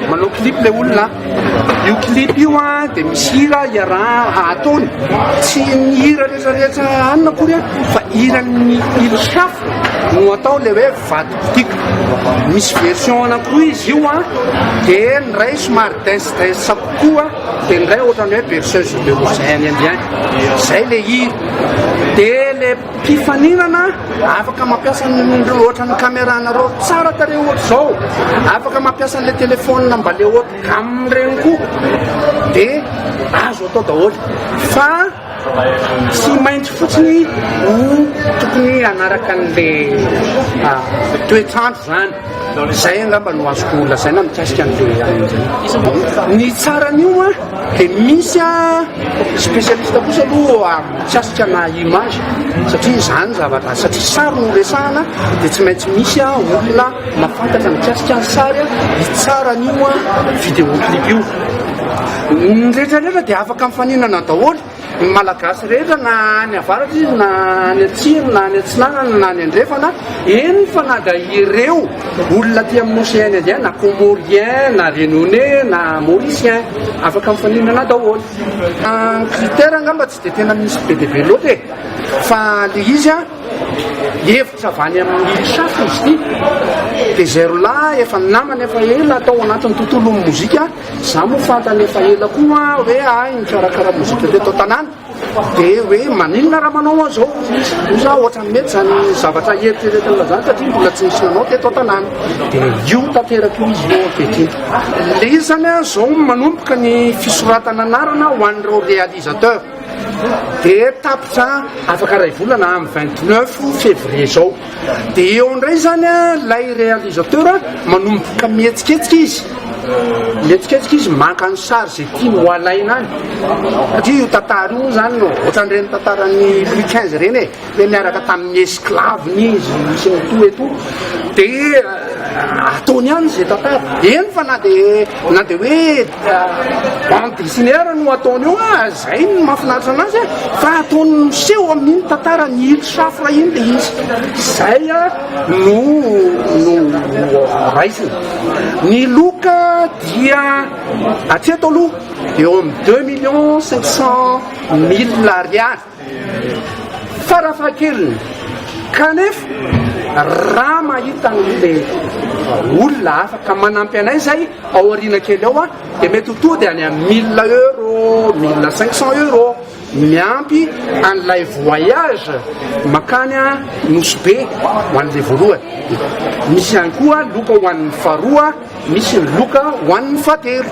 Manao clip le olona. Io clip io a dia misy hira iaraha ataony. Tsy ny hira rehetra rehetra anona akory a fa hiran'ny Ilhaf no atao le hoe vato botika. Misy version anankiroa izy io a dia ny iray somary dance dance kokoa dia ny iray ohatran'ny hoe berceuse de rosaine indien. Zay le hira. Dia le Mpifaninana afaka mampiasa ny ohatra ny camera nareo tsara tarehy ohatra izao, afaka mampiasa an'ilay telephone mba le haut gamme ireny koa de azo atao daholo fa tsy maintsy fotsiny no tokony hanaraka an'ilay toetr'andro izany. Izay angamba no azoko lazaina mikasika an'ireo ihany amin'izay. Ny tsaran'io an, dia misy an, spécialiste kosa aloha mikasika na image, satria izany zavatra, satria sary no resahana dia tsy maintsy misy an olona mahafantatra mikasika ny sary an, ny tsaran'io an vidéo clip io. Ny rehetra rehetra dia afaka mifaninana daholo. Ny Malagasy rehetra na any avaratra izy na any atsimo na any atsinanana na any andrefana, eny fa na dia ireo olona aty amin'ny Océan Indien na Comoriens na Réunionnais na Mauriciens, afaka mifaninana daholo. Ny critère angamba tsy dia tena misy be dia be loatra e! Fa ilay izy an, hevitra avy any amin'ny Chasse izy ity, dia izay roalahy efa namana efa ela tao anatin'ny tontolon'ny mozika, Za moa fantany efa ela koa hoe ahy mikarakara mozika teto an-tanàna dia hoe maninona raha manao an'izao hoy za ohatran'ny mety izany zavatra eritreretinao izany satria mbola tsy nisy nanao teto an-tanàna dia io tanteraka io izy io ankehitriny. Ilay izy izany an, izao manomboka ny fisoratana anarana ho an'ireo réalisateur dia tapitra afaka iray volana amin'ny vingt neuf février izao. Dia eo indray izany ilay réalisateur manomboka mihetsiketsika izy, mihetsiketsika izy maka ny sary izay tiany ho alaina any. Satria io tantara io izany no ohatran'ireny tantaran'ny Louis XV ireny e, hoe niaraka tamin'ny esclave-ny izy sy ny toa et tout. Dia ataony any izay tantara. Eny fa na dia Na dia hoe bande dessinaire no ataony eo ah, izay no mahafinaritra anazy ah, fa ataony miseho amin'iny tantara ny hil safra iny dia izy. Izay ah, no, no raisina. Ny loka dia atreto aloha eo amin'ny deux millions cinq cent mille ariary. Farafahakeliny, kanefa, raha mahita an'ilay olona hafa ka manampy anay izay ao aoriana kely ao, dia mety ho tonga dia any amin'ny mille euro, mille cinq cents euro, miampy an'ilay voyage makany Nosy Be ho an'ilay voalohany. Misy ihany koa loka ho an'ny faharoa, misy ny loka ho an'ny fahatelo.